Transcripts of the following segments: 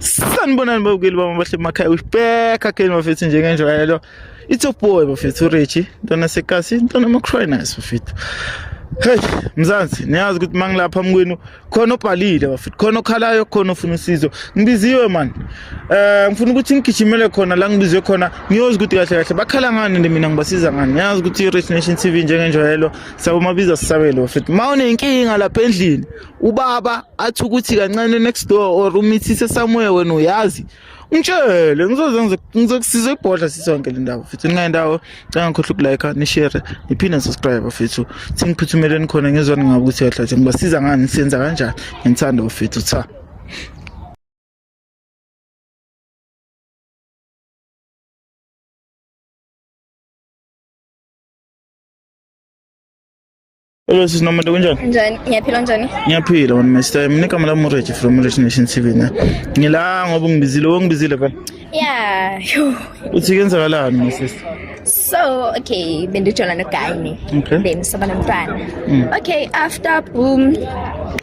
sanibonani babukeli bami abahle emakhaya usibheka keni bafethu njengenjwayelo it's a boy bafethu urichi ntwana sekasi ntwana macrinus bafethu Hey mzansi niyazi ukuthi mangilapha mkwenu khona obhalile bafethu khona okhalayo khona ofuna usizo ngibiziwe man eh ngifuna ukuthi ngigijimele khona la ngibizwe khona ngiyozi ukuthi kahle kahle bakhala ngani nje mina ngibasiza ngani niyazi ukuthi i-Rich Nation TV njengenjwayelo sabumabiza sisabele bafethu mawunenkinga lapha endlini ubaba athi ukuthi kancane next door or umithise somewhere wena uyazi ngitshele ngizoze ngizokusiza ibhodla sisonke le ndawo futhi ningaye ndawo canga ngikhohle ukulike nishere niphinde nisubscribe futhi thi ngiphuthumeleni khona ngezwani ngabe ukuthi yahlathi ngibasiza ngani siyenza kanjani ngithanda ufethu cha Hello sis Nomade kunjani? Njani? Ngiyaphila njani? Ngiyaphila wena Mr. Mina igama lami Rich from Rich Nation TV ne. Ngila ngoba ngibizile, wongibizile phela. Yeah. Uthi kenzakalani my sister? So, okay, bendijola no guy ne. Okay. Then soba nomntwana. Mm. Okay, after boom.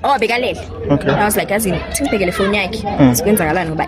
Oh, bekalele. Okay. I was like, as in, singibhekele phone yakhe. Mm. Sikwenzakalani ngoba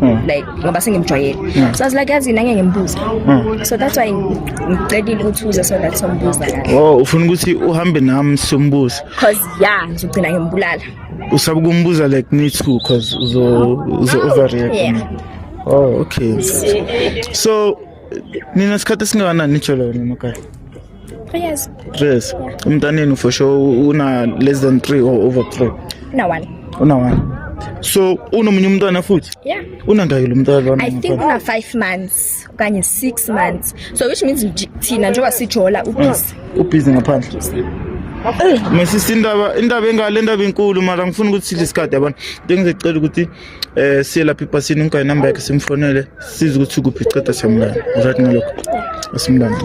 Hmm. like ngoba sengimjwayele hmm. so i was like yazi nanye ngimbuza hmm. so that's why ngicelile ukuthi uze so that sombuza kahle oh ufuna ukuthi uhambe nami sombuza cause yeah ngizogcina ngimbulala usaba ukumbuza like me too cause uzo uzo overreact yeah. oh okay so nina sikhathi esingakanani nijolo wena emakhaya three years three years umntanenu for sure una less than three or over three una one una one so unomunye umntwana futhi yeah unangaki lo mntwana lona i think una 5 months okanye 6 months so which means thina njengoba sijola ubhizi ubhizi ngaphandle mesisi indaba indaba engale indaba enkulu mara ngifuna ukuthi sidle isikhathi abantu bengizecela ukuthi eh siyelapha ipasini ngikho inamba yakhe simfonele size ukuthi kuphi ceda siyamlanda right ngalokho asimlande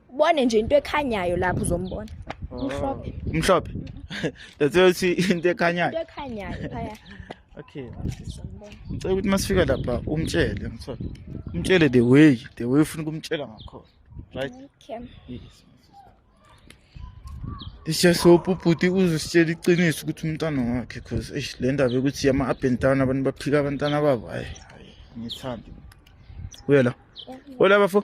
ubone nje into ekhanyayo lapho uzombona umhlophe umhlophe that's why uthi into ekhanyayo into ekhanyayo phaya okay ngicela ukuthi masifika lapha umtshele ngithola umtshele the way the way ufuna ukumtshela ngakhona right okay yes Isiyasopha ubhuti uzositshela iqiniso ukuthi umntana wakhe cause eish le ndaba yokuthi yama up and down abantu baphika abantwana babo hayi ngithandi. Uyela. Hola bafo.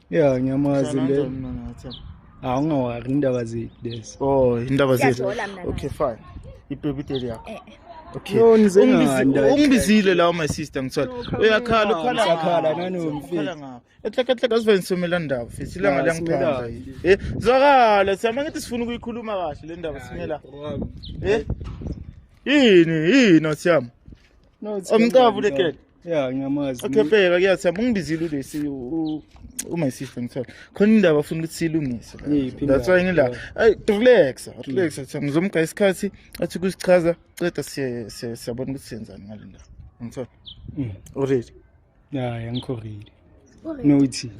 ya ngiyamazi le hawu ungawari indaba zethu lezi oh indaba zethu okay fine ibhebideli yakho eh, eh. ungibizile lawo my sister ngithola uyakhala ukhalakhala nanomfetlekatleka sivanisomela ndaba fesi ilanga liyangiphandla eh, zwakala siyama ngithi sifuna ukuyikhuluma kahle le ndaba simela eh? yini yini osiyama omcavu lekele ya ngiyamazi okay bheka kuyasiyama ungibizile ulesi uma isihle ngithola khona indaba afuna ukuthi silungise that's why ngila ay relax relax athi ngizomga isikhathi athi kusichaza ceda siye siyabona ukuthi senzani ngalendaba ngithola mm. already ya yeah, ngikho ready nowuthini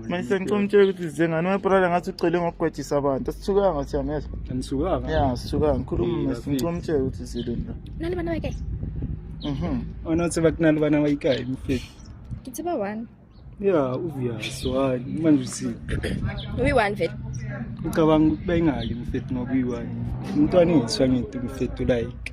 manje sengicela umtshela ukuthi zengane umaprala ngathi ucele ngokugwejisa abantu asithukanga siyameza anisukanga ya asithukanga ngikhuluma mesi ngicela umtshela ukuthi zilenda nani bana wayikayi mhm onothi bakunani bana wayikayi mfethu ngithi ba one ya uvuyazi wani manje uthi uyi-one vele ucabanga ukuthi bayingaki mfethu ngoba uyi-one umntwana engiswa ngithi mfethu like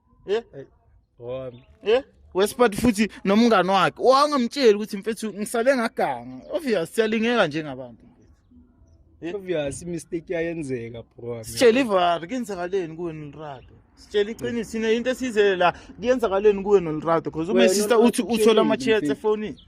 Eh? Hey. Wami. Eh? wesiphathi futhi nomngani wakhe wangamtsheli ukuthi mfethu ngisale ngaganga obvious siyalingeka njengabantu obvious imistake yayenzeka bro sitshela ivari kenzakaleni kuwe nolrado sitshela iqiniso ine into esizele la kuyenzakaleni kuwe nolrado because uma sister uthi uthola ama-chats efonini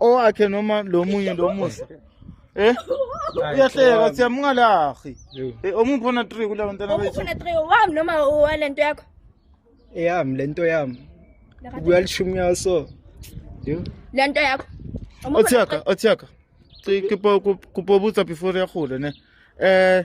owakhe noma lo munye lo musa Eh? Uyahleka siya mungalahi. Eh omuphona 3 kula bantwana bethu. Omuphona 3 wami noma walento yakho? Eyami lento yami. Kuyalishumi yaso. Yo. Lento yakho. Othiyaka, othiyaka. Kupobuza before yakhula ne. Eh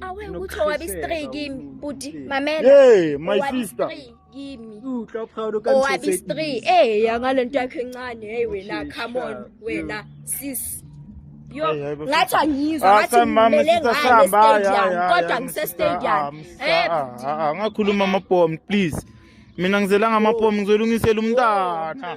awe ukuthi owabi stray kimi bhuti mamela hey my sister kimi owabi stray eh yangalento yakhe encane hey wena come on wena sis yo ngathi angizwa ah, ngathi ngimele ngayestadium kodwa ngisestadium eh angakhuluma amabhomu please mina ngizelanga amabhomu ngizolungisela umntana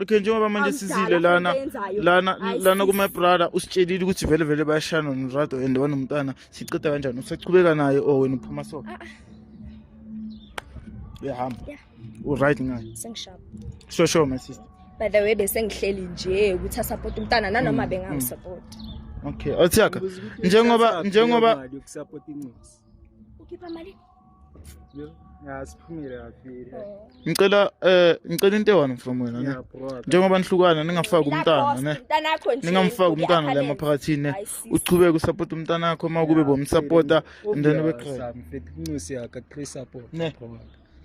okay njengoba manje sizile lana lana lana kuma brother usitshelile ukuthi vele vele bayashana norado and wanomntana siceda kanjani usachubeka naye or oh, wena uphuma so ah, ah. uyahamba uright ngayo sengishapo sure sure my sister by the way bese ngihleli nje ukuthi asupport umntana nanoma mm, bengamsupport mm. okay othiyaka njengoba njengoba ukhipha mali ngicela eh ngicela into ewani from wena ne njengoba nihlukana ningafaki umntana ne ningamfaki umntana la maphakathini ne uchubeke usupport umntana wakho uma kube bomsupporta and then ube qhela mfethu inxusi yakhe qhela support ne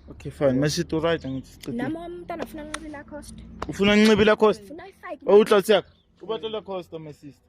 Okay fine, masithi right ngithi siqedile. Nami umntana ufuna nqibila cost. Ufuna nqibila cost? Ufuna ifake. Owutlotsi yakho. Ubatlola cost my sister.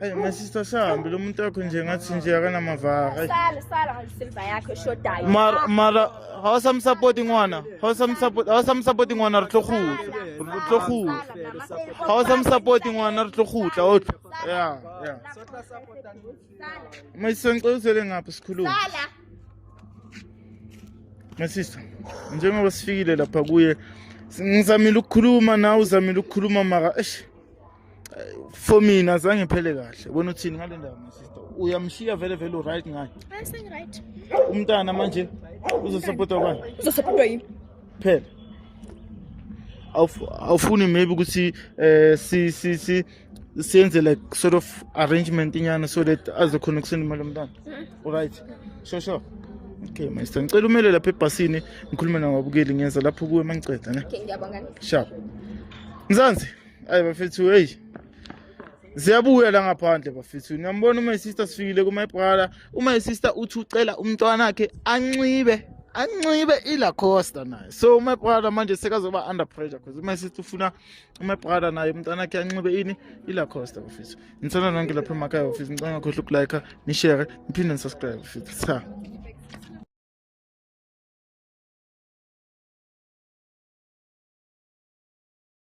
Hey, my sister sihambile umuntu wakho nje ngathi nje akanamavara. Hey. Sala sala ngalisilva yakho eshodayo. Mara mara hawasamsupporti ngwana. Hawasamsupporti hawasamsupporti ngwana re tlo khutla. Re tlo khutla. Hawasamsupporti ngwana re tlo khutla. O tlo. Yeah, yeah. My sister ngicela uzele ngapha sikhuluma. Sala. My sister, njengoba sifikile lapha kuye ngizamile ukukhuluma nawe uzamile ukukhuluma mara eish for mina zange phele kahle wena uthini ngale ndaba my sister uyamshiya vele vele uright ngayo umntana manje uzosapota ubani uzosapota yini phela awufuni maybe ukuthi um si si si senze like sort of arrangement inyana so that azokhona ukusenda imali yomntana olright hmm. sure sure okay master ngicela umele lapha ebhasini ngikhulume nababukeli ngenza lapho kuwe uma ngiceda ne sharp mzansi ayi bafethu heyi ziyabuya la ngaphandle bafethu niyambona uma isister sifikile kuma brother uma isister uthi ucela umntwana wakhe anxibe anxibe ilacosta naye so uma brother manje sekazoba under pressure because uma sister ufuna uma brother naye umntwana wakhe anxibe ini ilacosta bafethu ngithanda nonke lapha emakhaya bafethu ngicela ngakhohle ukulike nishare niphinde nisubscribe bafethu cha